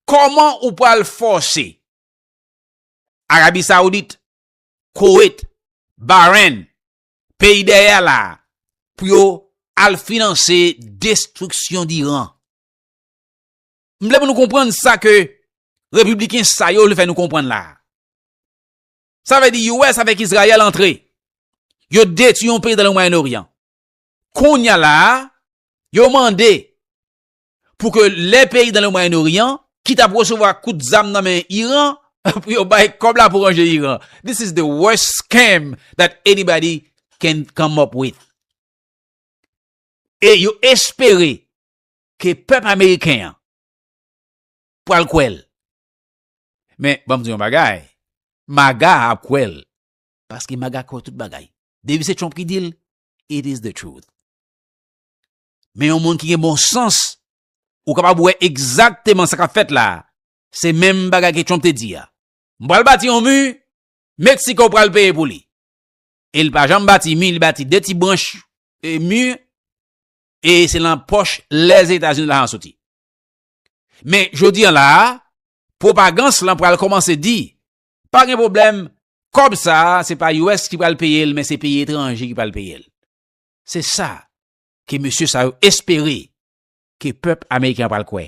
Koman ou pral fòse Arabi Saoudit, Kowet, Baren, peyi dèyè la, pou yo al finanse destriksyon d'Iran? M vle pou nou konprann sa ke Repibliken sa yo vle fè nou konprann la. Sa vle di US avèk Izrayèl antre. Yo detwi yon peyi nan le Mwayen Oryan. Kounya la a, yo mande pou ke le peyi nan le Mwayen Oryan ki tap resevwa kout zam nan men Iran, pou yo bay kòb la pou ranje Iran. This is the worst scam that anybody can come up with. E yo espere ke pèp Ameriken an pwal kwèl. Men, banm di yon bagay, MAGA ap kwè l. Paske MAGA kwè tout bagay. Depi se Trump ki di l, it is the truth. Men yon moun ki gen bon sans, ou kapab wè egzakteman sa k ap fèt la, se menm bagay ke Trump te di a. M pral bati yon mi, Mexico pral peye pou li. E li pa janm bati mi, li bati 2 ti branch mi, e se lan pòch Lèzetazini lajan an soti. Men jodi an la a, pwopagans lan pral kòmanse di, pa gen pwoblèm, kòb sa a se pa US ki pral peye l men se peyi etranje ki pral peye l. Se sa ke mesye sa yo espere ke pèp ameriken an pral kwè.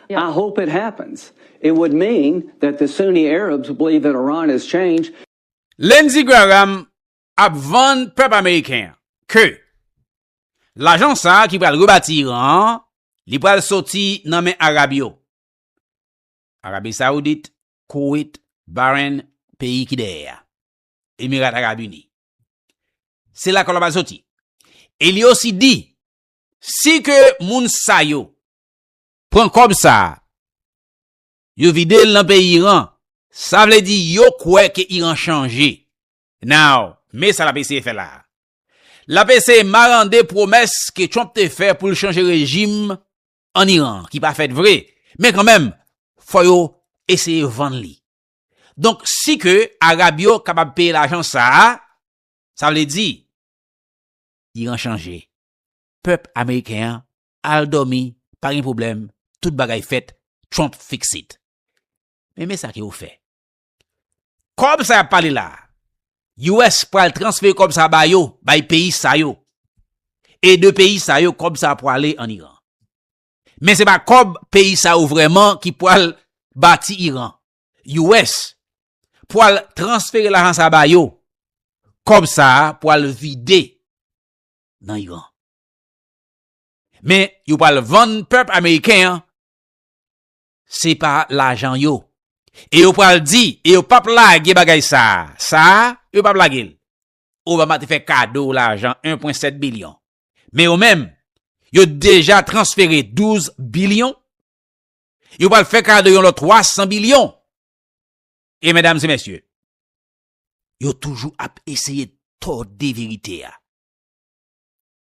I hope it happens. It would mean that the Sunni Arabs believe that Iran has changed. Lindsey Graham ap vann pèp ameriken an ke lajan sa ki pral rebati Iran an, li pral soti nan men Arab yo, Arabi Saoudit, Koweit, Bahrain, peyi ki dèyè a, Emirat Arab Uni. Se la kòb la pral soti. E li osi di, si ke moun sa yo pran kòb sa a, yo vide l nan peyi Iran, sa vle di yo kwè ke Iran chanje. Now, men sa l ap eseye fè la a. L ap eseye marande pwomès ke Trump te fè pou l chanje rejim an Iran, ki pa fèt vre, men kanmenm, fò yo eseye vann li. Donk, si ke Arab yo kapab peye lajan sa a, sa vle di, Iran chanje. Pèp Ameriken an al domi pa gen problem tout bagay fet trump fix it men men sa ke yo fe kob sa yap pale la us pral transfere kob sa ba yo bay peyi sa yo e de peyi sa yo kob sa prale an iran men se pa kob peyi sa yo vreman ki pral bati iran us pral transfere lajan sa ba yo kob sa pral vide nan iran. Men yo pral vann pèp ameriken an se pa lajan yo. E yo pral di, e yo pap lage bagay sa, sa yo pap lage l. Obama te fè kado lajan 1.7 bilyon. Men yo menm, yo deja transfere 12 bilyon. Yo pral fè kado yon lòt 300 bilyon. E medam se mesye, yo toujou ap eseye tòde verite a.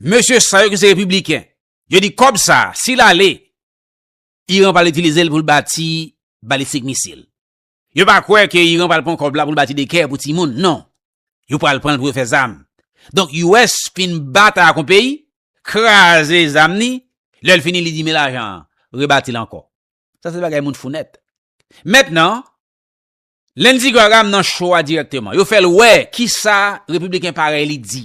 Mesye sa yo ki se repibliken, yo di kòb sa a, si l ale, Iran pral itilize l pou l bati balistik misil. Yo pa kwè ke Iran pral pran kòb la pou l bati dekè pou timoun, non. Yo pral pran l pou yo fè zam. Donk, US fin batay ak yon peyi, kraze zam ni, lè l fini li di men lajan an, rebati l ankò. Sa se bagay moun fou nèt. Mentnan, Lindsey Graham nan show a dirèkteman. Yo fè l wè kisa repibliken parèy li di.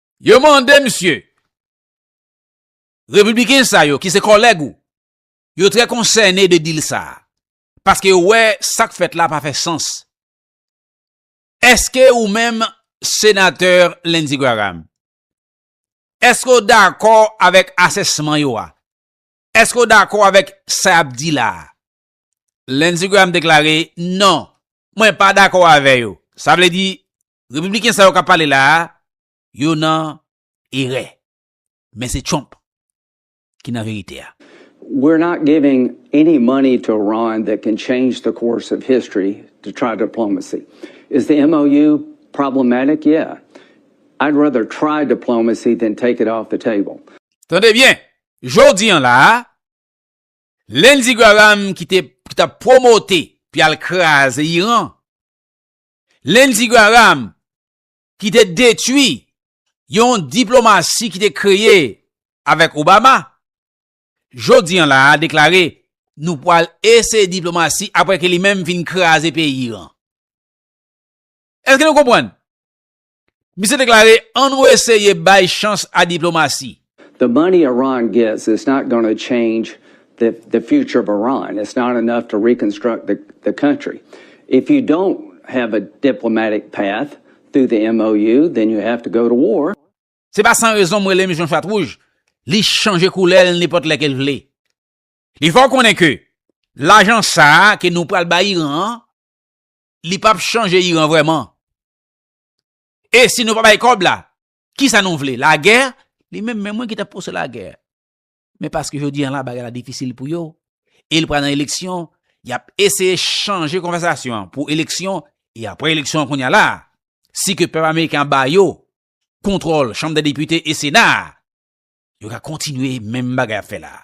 Yo mande misye, Repibliken sa yo ki se kòlèg ou, yo trè konsène de dil sa a, paske yo wè sa k fèt la pa fè sans. Èske ou menm Senatè Lindsey Graham, èske w dakò avèk asèsman yo a? Èske w dakò avèk sa y ap di la a? Lindsey Graham deklare, Non, mwen pa dakò avè yo. Sa vle di, Repibliken sa yo kap pale la a, yo nan erè. Men se Trump ki nan verite a. We're not giving any money to Iran that can change the course of history to try diplomacy. Is the MOU problematic? Yeah. I'd rather try diplomacy than take it off the table. Tande byen, jodi an la a, Lindsey Graham ki te, ki tap pwomote pou yal kraze Iran, Lindsey Graham ki te detwi yon diplomasi ki te kreye avèk Obama, jodi an la a deklare nou pwal eseye diplomasi apre ke li menm fin kraze peyi Iran. Eske nou konpwann? Misye deklare An nou eseye bay chans a diplomasi. The money Iran gets is not gonna change the the future of Iran, it's not enough to reconstruct the the country. If you don't have a diplomatic path through the MOU, then you have to go to war. Se pa san rezon m rele misye yon chat wouj, li chanje koulè l nenpòt lè ke l vle. Li fè w konnen ke lajan sa a ke nou pral bay Iran an, li p ap chanje Iran vrèman. E si nou pa bay kòb la, ki sa nou vle? Lagè? Li menm men mwen ki tap pouse lagè. Men paske jodi an la bagay la difisil pou yo, e li pral nan eleksyon, yap eseye chanje konvèsasyon an pou eleksyon, e apre eleksyon an kounya la, si ke pèp ameriken an ba yo kontwòl chanm dè depite e sena a, yo ka kontinye menm bagay yap fè la a.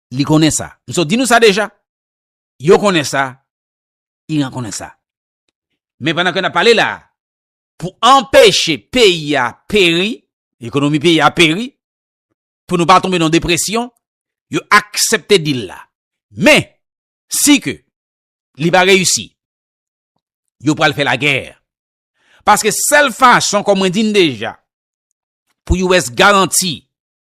Li konnen sa. M sot di nou sa deja. Yo konnen sa. Iran konnen sa. Men pandan ke nan pale la, pou anpeche peyi a peri, ekonomi peyi a peri, pou nou pa tonbe nan depresyon, yo aksepte dil la. Men, si ke li pa reyisi, yo pral fè la gèr. Paske sèl fason, kon mwen di n deja, pou US garanti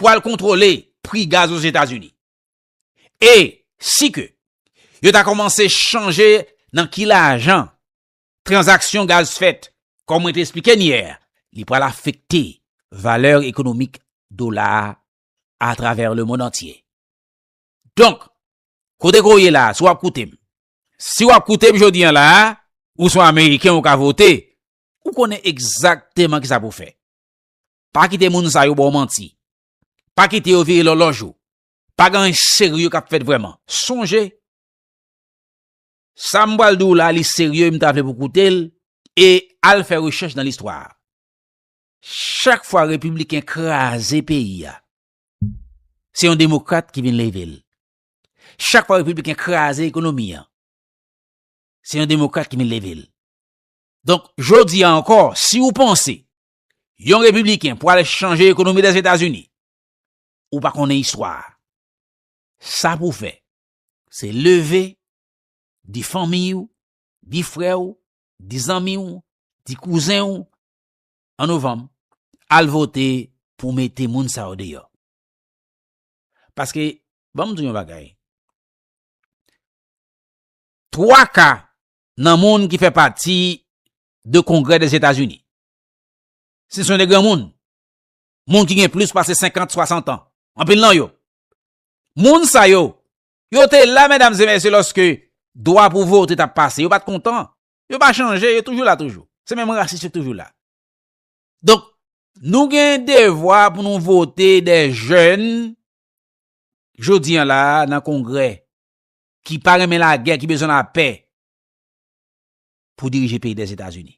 pwal kontrole pri gaz Ozetazini. E si ke yo ta komanse chanje nan ki lajan tranzaksyon gaz fèt, kon mwen te esplike n yè, li pwal afekte valè ekonomik dola a travè le mond antye. Donk, kote ke w ye la, si w ap koute m, si w ap koute m jodi an la, ou son Ameriken ou ka vote, ou konnen egzakteman ki sa pou w fè. Pa kite moun sa yo ba w manti. Pa kite yo vire lòlòj ou. Pa gen anyen serye k ap fèt vrèman. Sonje, sa m pral di w la, li serye, m ta vle pou w koute l, e al fè rechèch nan listwa. Chak fwa repibliken kraze peyi a, se yon demokrat ki vin leve l. Chak fwa repibliken kraze ekonomi an, se yon demokrat ki vin leve l. Donk, jodi a ankò, si w panse Yon repibliken pwal chanje ekonomi Lèzetazini. Ou pa konnen istwa a. Sa pou fè, se leve, di fanmi ou, di frè ou, di zanmi ou, di kouzen ou, an novanm, al vote pou mete moun sa yo deyò. Paske, banm di yon bagay, twa ka nan moun ki fè pati de kongrè Lèzetazini, Si se yon de granmoun, moun ki gen plis pase 50, 60 an, anpil nan yo, moun sa yo, yo te la medam se mesye loske dwa pou vote tap pase, yo pat kontan, yo pa chanje, yo toujou la toujou. Se menm rasis yo toujou la. Donk, nou gen devwa pou nou vote de jèn, jodi an la nan kongre, ki pa renmen la gè, ki bezwen la pè, pou dirije peyi de Zetazini.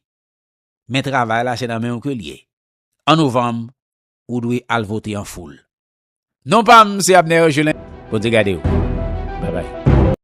men travay la se nan menw ke l ye. An novanm ou dwe al vote an foul. Non pam se Abner Gelin. Bondye gade w. Bye bye.